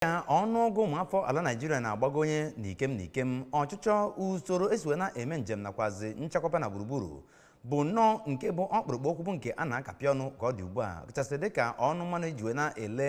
ka ọnụọgụ ụmụafọ ala Naịjirịa na-agbagonye n'ikem n'ikem ọchịchọ usoro esi wee na-eme njem nakwazi nchekwaba na gburugburu bụ nnọọ nke bụ ọkpụrụkpụ okwu bụ nke a na-akapị ọnụ ka ọ dị ugbu a kachasị dịka ọnụ mmanụ eji wee na-ele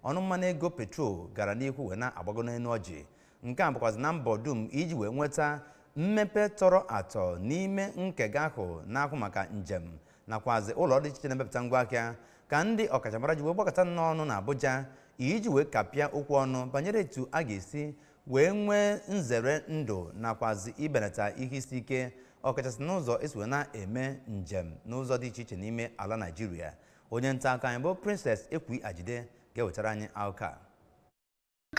ọnụ mmanụ ego petrol gara n'ihu wee na-agbago n'elu ọjị nke a bụkwazi na mbọ dum iji wee nweta mmepe tọrọ atọ n'ime nkega ahụ na-ahụ maka njem nakwazi ụlọ dị iche iche na-emepụta ngwa ahịa ka ndị ọkachamara ji wee gbakọta n'ọnụ na Abuja iji wee kapịa okwu ọnụ banyere etu a ga-esi wee nwee nzere ndụ nakwazi ibenata ihe isi ike ọkachasị n'ụzọ esi wee na-eme njem n'ụzọ dị iche iche n'ime ala Naịjirịa onye nta akụkọ anyị bụ Princess Ekwi Ajide ga-ewetara anyị akụkọ a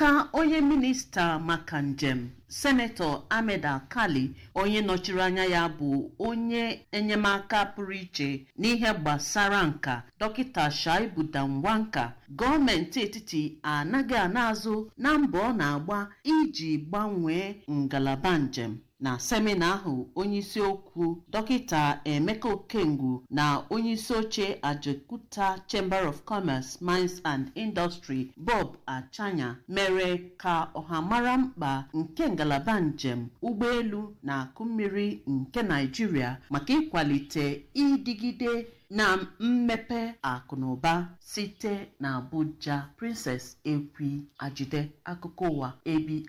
Ka onye minista maka njem, Senetọ Ahmed Alkali, onye nọchiri anya ya bụ onye enyemaka pụrụ iche n'ihe gbasara nka, Dọkịta Shaibu Danwanka, gọọmenti etiti anaghị ana azụ na mbọ ọ na-agba iji gbanwee ngalaba njem. Na semina ahụ, onyeisi okwu Dọkịta Emeka Okengwu na onyeisi oche Ajaokuta Chamber of Commerce, Mines and Industry, Bob Achanya, mere ka ọha mara mkpa nke ngalaba njem ụgbọelu na akụ mmiri nke Naịjirịa maka ịkwalite ịdịgide na mmepe akụ na ụba site na Abuja. Princess Ekwi Ajide, akụkọ ụwa ABS.